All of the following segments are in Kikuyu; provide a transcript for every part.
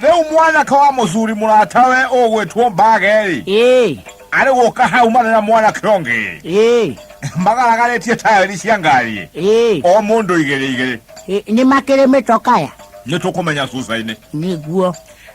Rĩu mwanake wa mũthuri mũratawe ũgwĩtwo Bageli ĩĩ arĩ gũka hau marĩ na mwanake ũngĩ ĩĩ magaragarĩtie taĩri cia ngari ĩĩ o mũndũ igĩrĩ igĩrĩ ĩ- nĩ makĩrĩ mĩtokaya nĩ tũkũmenya cuca-inĩ nĩguo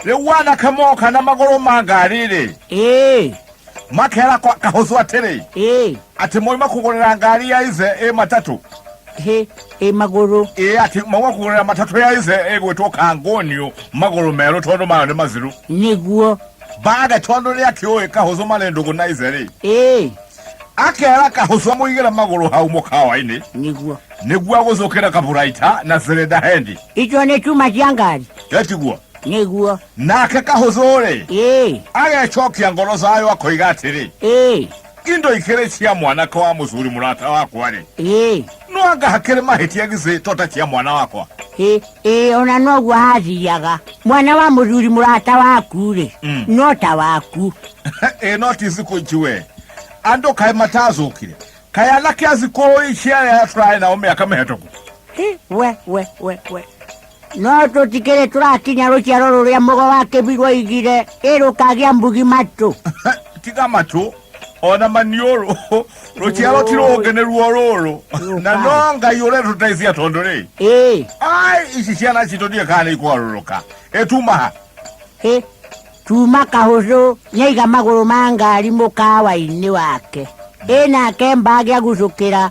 rĩu wanake moka na magũrũ ma ngari-rĩ ĩĩ makera kwa kahuzu atiri eh ati mwe makugurira ngari ya ize e matatu he e maguru e ati mwe makugurira matatu ya ize e gwetwo kangonio maguru mero tondu mayo ni maziru niguo baga tondu ni akioi kahuzu malendo kuna ize ri eh akera kahuzu amuigire maguru hau mukawa-ini niguo niguo agucukira kaburaita na zirenda hendi icio nĩ cuma cia ngari etiguo niguo Nake kahũthũ-rĩ, Ĩĩ, agecokia ngoro zayo akoiga atĩrĩ, ĩĩ, indo ikĩrĩ cia mwanake wa mũcuri mũrata wakwa-rĩ, ĩĩ, no anga hakĩrĩ mahĩtia githĩ to ta cia mwana wakwa? ĩĩ, ĩĩ, ona noguo hathiaga mwana wa mũthuri mũrata waku-rĩ Mm. no ta waku ĩ no ti thikũ ici we andũ kaĩ matacũkire kaĩ anake a thikũ ici arĩa tũrarĩ nao mĩaka mĩhetũku Hĩ, we we we we No tũtikĩrĩ tũrakinya rũciaro rũrĩa mũgo wa kĩbi rwaigire ĩ rũkagĩa mbugi matũ tiga matũ ona maniũrũ rũciaro ti rũngĩ nĩ ruo rũrũ na no ngai ũrĩa tũteithia tondũ rĩ ĩ ai ici ciana citũ ndiĩ kana nĩ ikwarũrũka ĩtumaha ĩ tuma kahũcũ nyaiga magũrũ ma ngari mũkawa-inĩ wake ĩ nake mbagĩa gucũkĩra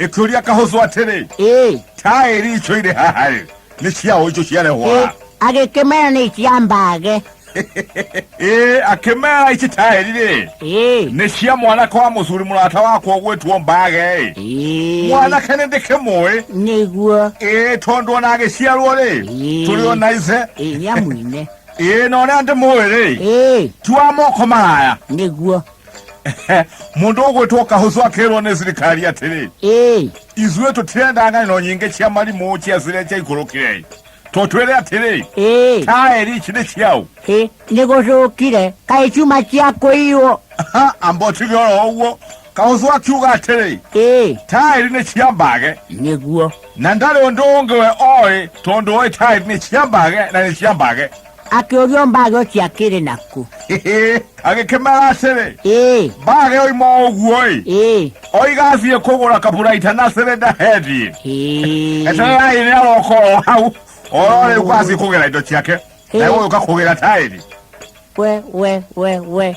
ĩkĩũria kahũcũ atĩrĩ ĩĩ taĩri icio irĩ haha rĩ nĩ cia ũ icio ciarehwo ĩĩ haha agĩkĩmera nĩ cia mbage ĩĩ akĩmera ici taĩri rĩ ĩĩ nĩ cia mwanake wa mũcuri mũrata wakwa ũgwĩtwo mbage ĩ ĩĩ mwanake nĩ ndĩkĩmũĩ nĩguo ĩĩ tondũ ona agĩciarwo rĩ Ĩĩ. tũrĩ o na ice ĩĩ nĩamwine ĩĩ na ũrĩa ndĩmũĩ rĩ ĩĩ ti wa moko maraya nĩguo mundu ugwitwo kahucu akirwo ni thirikari atiri ithuĩ tũtirenda ng'ano nyingĩ cia marimũ cia ciria ciaikũrũkire tũtwĩre atĩrĩ taeri ici nĩ ciaũ nĩ gũcũkire kaĩ ciuma cia kũiywo amba ũtige oro ũguo kahucu akiuga atĩrĩ taeri nĩ cia mbage nĩguo na ndarĩ ũndũ ũngĩ we oĩ tondũ oĩ taeri nĩ cia mbage na nĩ cia mbage Akĩũrio mbage ũcio akĩrĩ naku. agĩkĩmera atĩrĩ Ĩĩ, mbage oima ũguo-ĩ ĩĩ, oiga athiĩ kũgũra kaburaita na cĩrĩ ndahethiĩ ĩĩ. etererai nĩ aroka o hau oro rĩu kwathiĩ kũgĩra indo ciake Ĩĩ. na gũgĩũka kũgĩra taĩri We, we, we, we.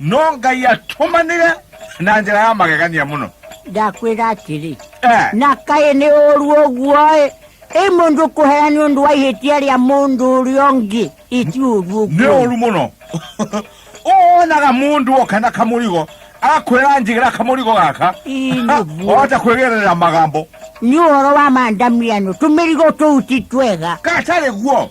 no ngai atũmanĩre na njĩra ya magegania mũno ndakwĩra atĩrĩ Eh, na kaĩ nĩ ũru ũguo-ĩ ĩ mũndũ kũhea nĩ ũndũ wa ihĩtia rĩa mũndũ ũrĩa ũngĩ ĩti ũru nĩ ũguo ũru mũno wonaga mũndũ oka na kamũrigo akwĩra njigĩra kamũrigo gaka Ĩ, nĩ ũguo. ohote kwĩgerera magambo nĩ ũhoro wa mandamiano tũmĩrigo tũu ti twega gatarĩ guo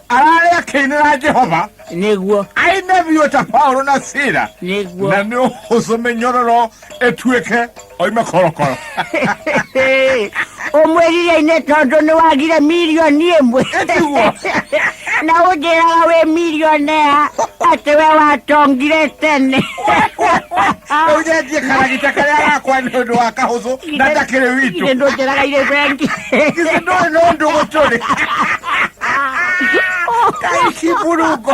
ararĩ akĩinĩra jehova nĩguo aine biũ ta paulo na sira nĩguo na nĩ ũhũcũ mĩnyororo ĩtuĩke oime korokoro ũmwĩrire inĩ tondũ nĩ wagire mirioni ĩmwe Nĩguo. na ũnjĩraga wĩ mirionea atĩ we watongire tene Rĩu nĩ njĩkara gĩta karĩa gakwa nĩ ũndũ wa kahũthũ na ndakĩrĩ witũ Ithe ndũnjĩraga irĩ bengi. githĩ ndũĩ nĩ ũndũ gũtũrĩ kaicimburungo